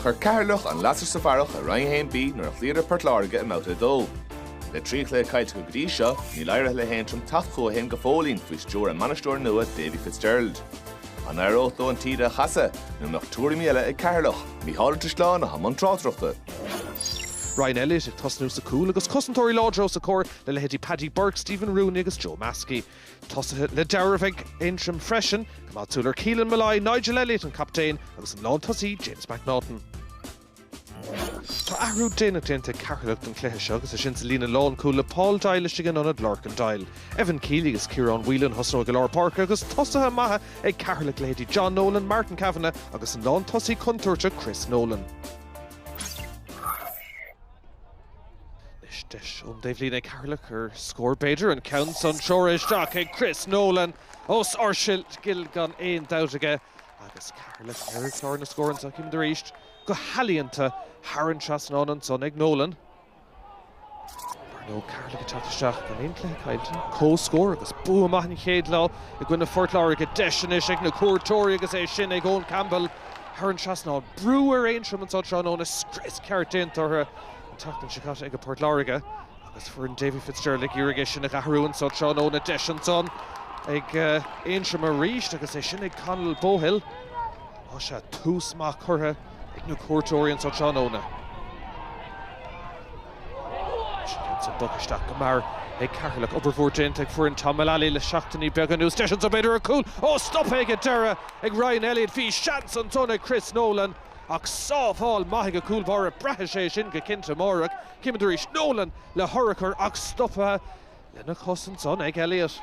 Chuir Ceatharlach an lasair sa bharrach i Roinn 1B nuair a chloíodar Port Láirge i mBabhta 2. Le trí chluiche caillte acu go dtí seo, níl éirithe le hAontroim teacht chucu féin go fóillín faoi stiúir a mbainisteora nua Davy Fitzgerald. An n-éireodh leo an taoide a chasadh nó an mbeadh tuairimí eile ag Ceatharlach? Micheál Ó Drisleáin atá i mbun tráchtaireachta. Ryan Elliott ag tosnú sa chúl agus cosantóirí láidre os a chomhair le leithéidí Paddy Burke, Stephen Rooney agus Joe Maskey. Tosaithe le dealramh ag Aontroim freisin, coimeád súil ar Keelan Molloy, Nigel Elliott an captaen agus an lántosaí James McNaughton. Tá athrú déanach déanta ag Ceatharlach don chluiche seo agus é sin sa líne lánchúil le Paul Doyle istigh in ionad Lorcan Doyle. Evan Kealy agus Ciarán Whelan a thosnóidh i lár páirce agus tosaithe maithe ag Ceatharlach, leithéidí John Nolan, Martin Kavanagh agus an lántosaí contúirteach Chris Nolan. Anois deis ón dtaobhlíne ag Ceatharlach ar scór b'fhéidir, an ceann san treoir isteach ag Chris Nolan is ardscil gan aon dabht aige agus Ceatharlach ar chlár na scór anseo. Címid arís go healaíonta thar an trasnán ansan ag Nolan. Dar ndóigh Ceatharlach ag teacht isteach gan aon cluiche caillte, comhscór agus bua maith an chéad lá i gcoinne Phort Láirge. Deis anois ag na cuairteoirí agus é sin ag Eoghan Campbell. thar an trasnán. Brú ar Aontroim anso tráthnóna, scrios ceart déanta orthu an tseachtain seo caite ag Port Láirge agus foireann Davy Fitzgerald ag iarraidh é sin a dh'athrú anso tráthnóna. Deis ansan ag Aontroim arís agus é sin ag Conall Bohill. Á sea, tús maith curtha ag na cuairteoirí anso tráthnóna. Sin ansan bog isteach go mear ag Ceatharlach. Obair mhór déanta ag foireann Tom Mullally le seachtainí beaga anuas. Deis anso b'fhéidir ar chúl. Ó, stoptha ag an deireadh! ag Ryan Elliott. Bhí seans ansan ag Chris Nolan ach sábháil maith ag an gcúl báire. Braithfidh sé sin go cinnte amárach. Címid arís. Nolan le hurchar ach stoptha lena chos ansan ag Elliott.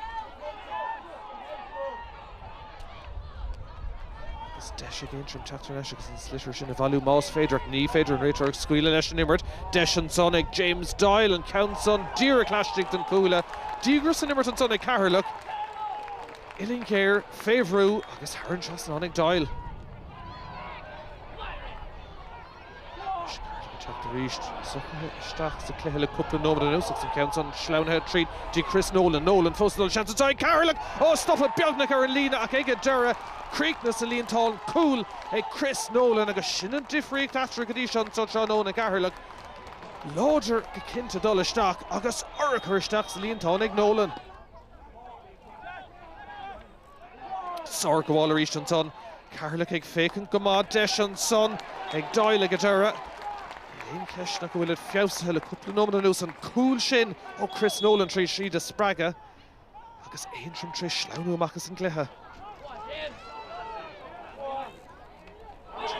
Agus deis ag Aontroim teacht ar ais agus an sliotar sin a bhailiú más féidir. Ach ní féidir an réiteoir ag scaoileadh leis an imirt. Deis ansan ag James Doyle, an ceann san díreach laistigh den chuaille. Díograis san imirt ansan ag Ceatharlach. Uillinn ghéar fé bhrú agus thar an trasnán ag Doyle. Anois Ceatharlach ag teacht arís. Socraithe isteach sa chluiche le cúpla nóiméad anuas agus an ceann san sleamhnaithe tríd go dtí Chris Nolan. Nolan fós ag dul. Seans atá ag Ceatharlach! Ó, stoptha beagnach ar an líne ach ag an deireadh chríochnaigh sa líontán. Cúl ag Chris Nolan agus sin an difríocht eatarthu go dtí seo anseo tráthnóna. Ceatharlach láidir go cinnte dul isteach agus urchar isteach sa líontán ag Nolan. Sárghabháil arís ansan. Ceatharlach ag féachaint go maith. Deis ansan ag Doyle ag an deireadh. Níl aon cheist ann ach go bhfuil siad feabhsaithe le cúpla nóiméad anuas. An cúl sin ó Chris Nolan tar éis iad a spreagadh agus Aontroim tar éis sleamhnú amach as an gcluiche.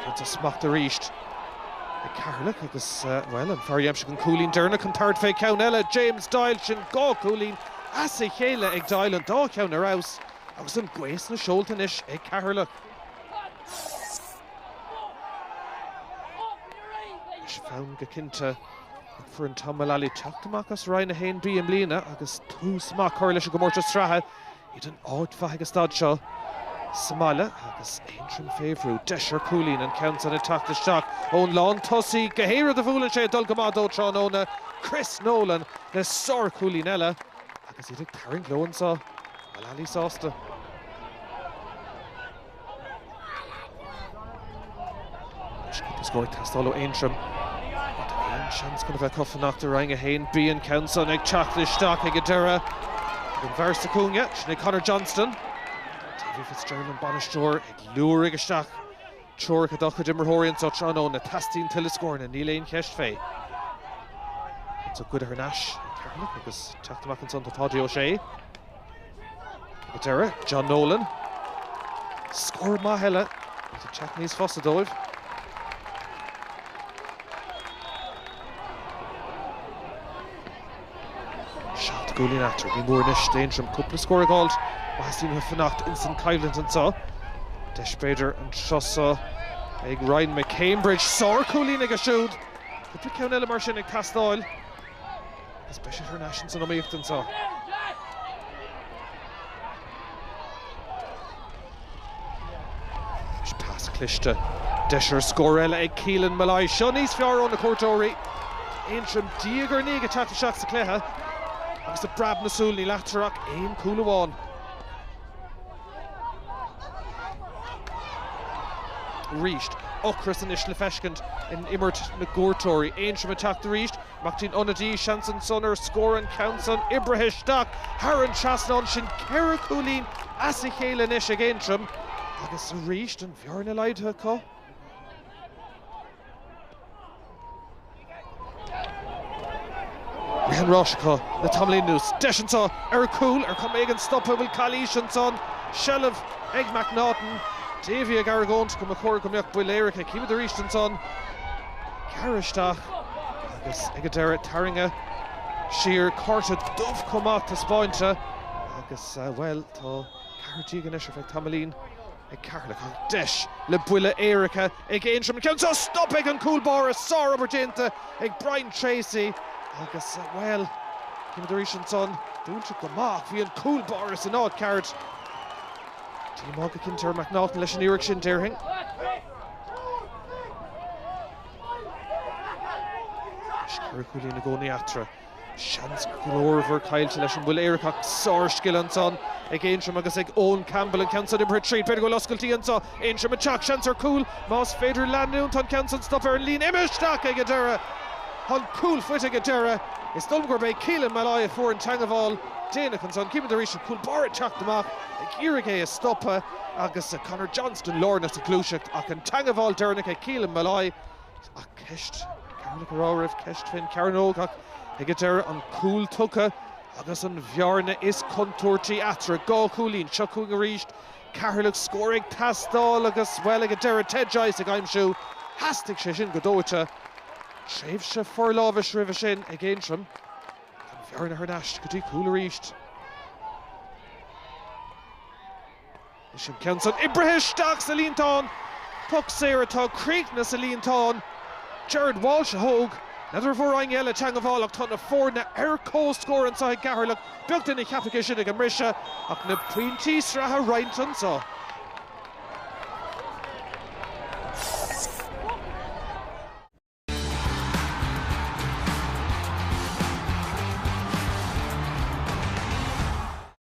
Tugtar smacht arís ag Ceatharlach agus, bhuel, an fear a d'aimsigh an cúilín deireanach chun tabhairt fé cheann eile, James Doyle. Sin dhá chúilín as a chéile ag Doyle, an dá cheann ar fheabhas agus an ghaoth sna seolta anois ag Ceatharlach. Tá san go cinnte. Ag foireann Tom Mullally teacht amach as Roinn 1B i mbliana agus tús maith curtha leis an gcomórtas sraithe. Iad in áit mhaith ag an staid seo sa mbaile agus Aontroim fé bhrú. Deis ar chúilín an ceann san ag teacht isteach ón lántosaí. Gach aon rud a bhuaileann sé ag dul go maith dó tráthnóna. Chris Nolan le sárchúilín eile agus iad ag tarraingt leo anseo. Mullally sásta. Níos mó ag teastáil ó Aontroim rud a mbíonn seans chun a bheith acu fanacht i Roinn 1B. An ceann san ag teacht isteach ag an deireadh ag an bhfear sa chúinne, sin é Conor Johnston. Davy Fitzgerald an bainisteoir ag liúirigh isteach treoracha dá chuid imreoirí anseo tráthnóna. Teastaíonn tuilleadh scóranna, níl aon cheist fé. An sliotar thar n-ais ag Ceatharlach agus teacht amach ansan tá Páidí Ó Sé. Ag an deireadh, John Nolan. Scór maith eile agus ag teacht níos fusa dóibh. Seacht gcúilín eatarthu. Ní mór anois d'Aontroim cúpla scór a d'fháilt má theastaíonn uathu fanacht ins an choimhlint anseo. Deis b'fhéidir anseo ag Ryan McCambridge. Sárchúilín aige siúd. Cúpla ceann eile mar sin ag teastáil. Is beidh siad thar n-ais insan iomaíocht anseo. Is pas cliste. Deis ar scór eile ag Keelan Molloy. Seo níos fearr ó na cuairteoirí. Aontroim diaidh ar ndiaidh ag teacht isteach sa chluiche agus i bpreab na súl níl eatarthu ach aon chúl amháin. arís. Ocras anois le feiscint in imirt na gcuairteoirí. Aontroim ag teacht arís. Mac Tín, ionadaí, seans ansan ar scór an ceann san oibrithe isteach thar an trasnán. Sin ceithre chúilín as a chéile anois ag Aontroim agus arís an bhearna laghdaithe acu. Bhí an forlámhas acu le tamall anuas. Deis anseo ar chúl, ar chuma éigin stoptha an bhfuil calaois ansan. Seilbh ag McNaughton. Davey ag argóint go mba chóir go mbeadh buille éirice. Címid arís ansan. Gearradh isteach agus ag an deireadh tarraingthe siar. Cárta dubh chomh maith taispeáinte agus, bhuel, tá ceathair déag anois ar feadh tamaillín. ag Ceatharlach deis le buille éirice ag Aontroim an ceann seo stoptha ag an gcúl báire. Sárobair déanta ag Brian Tracy agus, bhuel, címid arís ansan, dúnta go maith ach bhí an cúl báire san áit cheart. Díomá go cinnte ar McNaughton leis an iarracht sin, déarfainn. Ceithre chúilín i gcónaí eatarthu. Seans glórmhar caillte leis an mbuille éirice ach sárscil anseo ag Aontroim agus ag Eoin Campbell an ceann san oibrithe tríd. B'fhéidir go bhfuil oscailtí anseo, Aontroim ag teacht, seans ar chúl más féidir leanúint. Tá an ceann san stoptha ar an líne imeartha isteach ag an deireadh. Tá an cúl faighte ag an deireadh. Is dóigh liom gurb é Keelan Molloy a fuair an teagmháil dhéanach anseo. Címid arís an cúl báire ag teacht amach ag iarraidh é a stopadh agus Conor Johnston lárnach sa ghluaiseacht ach an teagmháil deireanach ag Keelan Molloy. Ceist, Ceatharlach a rá go raibh ceist faoin chearnóg ach ag a deireadh an cúl tugtha agus an bhearna is contúirtí eatarthu. Dhá chúilín. Seo chugainn arís Ceatharlach. Scór ag teastáil agus, bhuel, ag an deireadh Ted Joyce ag aimsiú. Theastaigh sé sin go dóite. Tréimhse forlámhais roimhe sin ag Aontroim. Ach an bhearna thar n-ais go dtí cúl arís. An ceann san oibrithe isteach sa líontán, poc saor atá críochnaithe sa líontán. Gerard Walsh a thóg. N'fheadar an bhfuair éinne eile teangabháil ach tá na foirne ar comhscór anseo i gCeatharlach, beag duine a cheapfadh é sin ag an mbriseadh, ach na pointí sraithe á roinnt anseo.